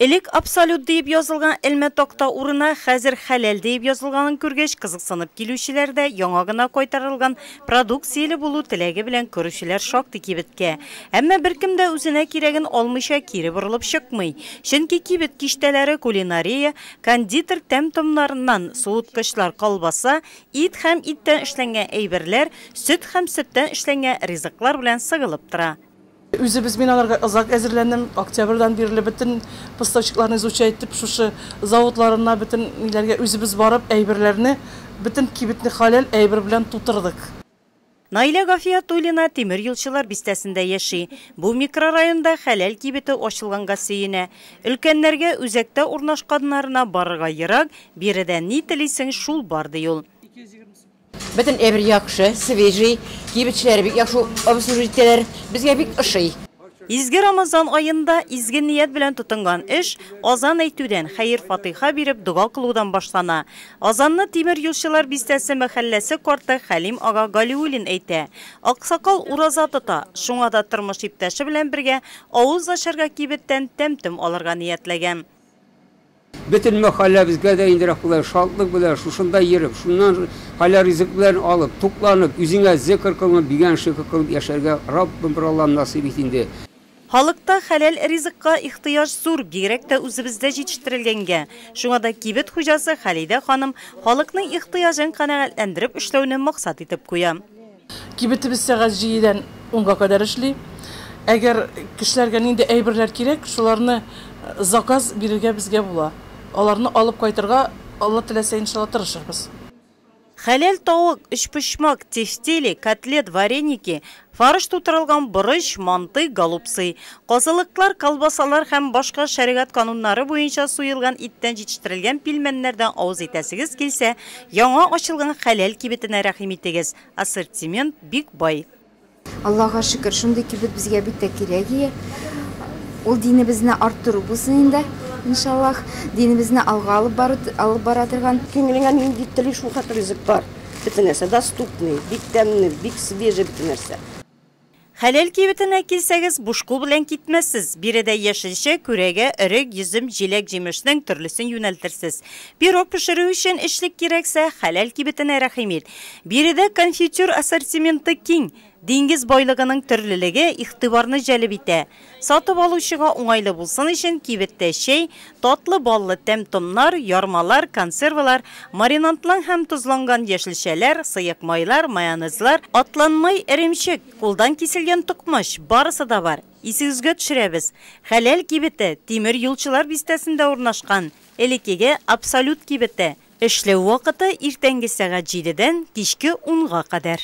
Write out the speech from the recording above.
Элек Абсолют диеп язылган элмә такта урына хәзер Хәләл диеп язылганын күргәч, кызыксынып килүчеләр дә, яңа гына кайтарылган продукцияле булу теләге белән керүчеләр шактый кибеткә. Әмма беркем дә үзенә кирәген алмыйча кире борылып чыкмый. Чөнки кибет киштәләре кулинария, кондитер тәм-томнарыннан, суыткычлар, колбаса, ит һәм иттән эшләнгән әйберләр, сөт һәм сөттән эшләнгән ризыклар белән сыгылып тора. Үзебез мин аларга озак әзерләндем, октябрьдан бирле бөтен поставщикларны изучать итеп, шушы заводларына, бөтен ниләргә үзебез барып, әйберләрне, бөтен кибетне хәләл әйбер белән тутырдык. Наилә Гафиятуллина Тимер юлчылар бистәсендә яши. Бу микрорайонда хәләл кибете ачылганга сөенә. Өлкәннәргә үзәктә урнашканнарына барырга ерак, биредә ни телисең, шул бар, ди ул. Бөтен әйбер яхшы, свежий, кибетчеләре бик яхшы обслужить итәләр, безгә бик ошый. Изге Рамазан аенда изге ният белән тотынган эш азан әйтүдән, хәер-фатыйха биреп, дога кылудан башлана. Азанны Тимер юлчылар бистәсе мәхәлләсе карты Хәлим ага Галиуллин әйтә. Аксакал ураза тота, шуңа да тормыш иптәше белән бергә авыз ачарга кибеттән тәм-том алырга ниятләгән. Бөтен мәхәлләбезгә дә инде рәхмәтләр, шатлык белән шушында йөреп, шуннан хәләл-ризык белән алып, тукланып, үзеңә зекер кылынып, бигән шөкер кылып яшәргә Раббым бер Аллам насыйп ит инде. Халыкта хәләл ризыкка ихтыяҗ зур, бигрәк тә үзебездә җитештерелгәнгә. Шуңа да кибет хуҗасы Халидә ханым халыкның ихтыяҗын канәгатьләндереп эшләүне максат итеп куя. Кибетебез сәгать җидедән унга кадәр эшли. Әгәр кешеләргә нинди әйберләр кирәк, шуларны заказ бирергә безгә була. Аларны алып кайтырга, Алла теләсә, иншалла, тырышырбыз. Хәләл тавык, өчпочмак, тефтели, котлет, вареники, фарш тутырылган борыч, манты, голубцы. Казылыклар, колбасалар һәм башка шәригать кануннары буенча суелган иттән җитештерелгән пилмәннәрдән авыз итәсегез килсә, Яңа ачылган хәләл кибетенә рәхим итегез, ассортимент бик бай. Аллага шөкер, шундый кибет безгә бик тә кирәк ие. Ул динебезне арттыру булсын инде, иншаллах. Динебезне алга алып бару, алып бара торган. Күңелеңә нинди телиш, шул хәтле ризык бар. Бөтен нәрсә доступный, бик тәмле, бик свежий бөтен нәрсә. Хәләл кибетенә килсәгез, буш кул белән китмәссез. Биредә яшелчә, күрәгә, өрек, йөзем, җиләк-җимешнең төрлесен юнәлтерсез. Пирог пешерү өчен эчлек кирәксә, хәләл кибетенә рәхим ит. Биредә конфитюр ассортименты киң. Диңгез байлыгының төрлелеге игътибарны җәлеп итә. Сатып алучыга уңайлы булсын өчен, кибеттә чәй, татлы баллы тәм-томнар, ярмалар, консервалар, маринадның һәм тозланган яшелчәләр, сыек майлар, майонезлар, атланмай эремчек, кулдан киселгән токмач, барысы да бар. Исегезгә төшерәбез, Хәләл кибете, Тимер юлчылар бистәсендә урнашкан, элекеге Абсолют кибете. Эшләү вакыты, иртәнге сәгать җидедән кичке унга кадәр.